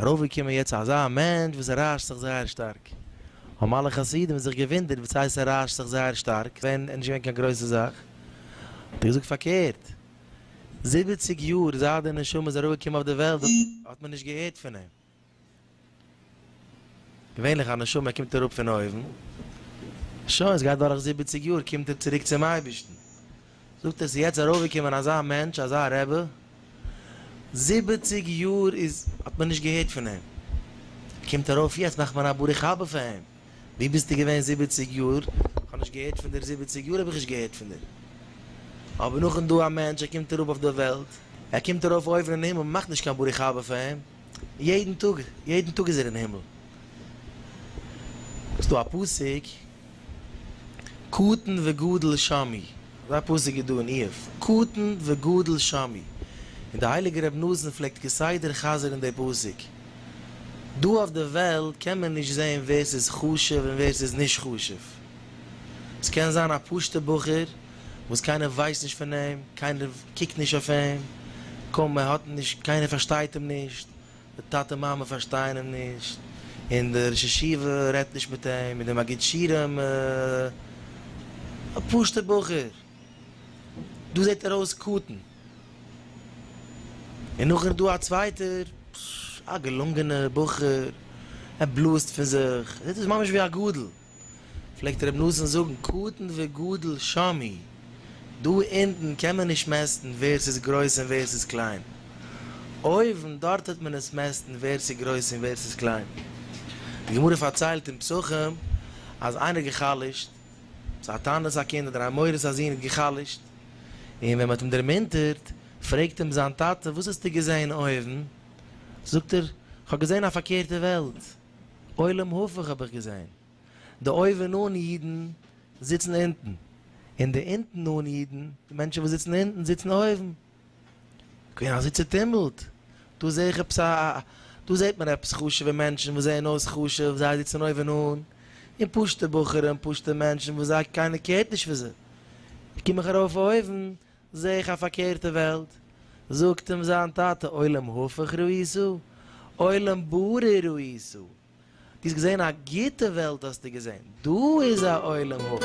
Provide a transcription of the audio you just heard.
ארויפגעקומען יעצט אזא מענטש וואס ריישט זיך זייער שטארק, האבן אלע חסידים זיך געוואונדערט וואס הייסט ער ריישט זיך זייער שטארק, עס איז נישט געווען קיין גרויסע זאך, האט ער געזאגט פארקערט, זיבעציג יאר זייט די נשמה איז ארויפגעקומען אויף די וועלט האט מען נישט געהערט פון אים, געווענליך א נשמה קומט אראפ פון אויבן, שוין עס גייט דורך זיבעציג יאר קומט ער צוריק צום אייבערשטן. זאגט ער ס'איז יעצט ארויפגעקומען אזא מענטש אזא רבי, זיבעציג יאר איז האט מען נישט געהערט פון אים, קומט ארויף יעצט מאכט מען א ברוך הבא פאר אים, וואו ביסטו געווען זיבעציג יאר, כ'האב נישט געהערט פון דיר זיבעציג יאר האב איך נישט געהערט פון דיר, אבער נאכן דא א מענטש ער קומט אראפ אויף די וועלט, ער קומט ארויף אויבן אין הימל, מ'מאכט נישט קיין ברוך הבא פאר אים, יעדן טאג יעדן טאג איז ער אין הימל, ס'דא א פסוק. קטן וגדל שמי, אזא פסוק איז דא אין איוב, קטן וגדל שמי, און די הייליגע רב נזן פלעגט כסדר חזר'ן די פסוק. דא אויף די וועלט קען מען נישט זען ווער ס'איז חשוב און ווער ס'איז נישט חשוב. ס'קען זיין א פשוט'ע בחור וואס קיינער ווייסט נישט פון אים, קיינער קוקט נישט אויף אים, קוים ער האט נישט, קיינער פארשטייט אים נישט, די טאטע מאמע פארשטייען אים נישט, און די ראש ישיבה רעדט נישט מיט אים, און די מגיד שירים, א פשוטער בחור, דא זעט ער אויס קטן, און נאכדעם איז דא א צווייטער, א געלונגענער בחור, ער בלאזט פון זיך, ער זעט אויס ממש ווי א גדול. פלעגט רבי נתן זאגן קטן וגדול שמי, דא אונטן קען מען נישט מעסטן ווער ס'איז גרויס און ווער ס'איז קליין, אויבן דארט טוט מען עס מעסטן ווער ס'איז גרויס און ווער ס'איז קליין. די גמרא פארציילט אין פסחים אז איינער האט גע'חלש'ט, צו א תענית א קינד אדער א מוהר'ס א זון האט גע'חלש'ט, און ווען מ'האט אים דערמונטערט פרעגט אים זיין טאטע וואס האסטו געזען אויבן? זאגט ער, כ'האב געזען א פארקערטע וועלט. עולם הפוך האב איך געזעהן, די אויבן אן אידן זיצן אונטן, און די אונטן אן אידן, די מענטשן וואס זיצן אונטן, זיצן אויבן. כבין אזוי צוטומלט, דא זעה איך עפעס א, דא זעהט מען עפעס חשובע מענטשן וואס זעהן אויס חשוב, זיי זיצן אויבן אן, און פשוטע בחורים, פשוטע מענטשן וואס זיי, קיינער קערט נישט פון זיי. קום איך ארויף אויבן, זעה איך א פארקערטע וועלט, זאגט אים זיין טאטע עולם הפוך ראיסו, עולם ברא ראיסו, דו האסט געזען א גוטע וועלט האסטו געזען, דא איז א עולם הפוך.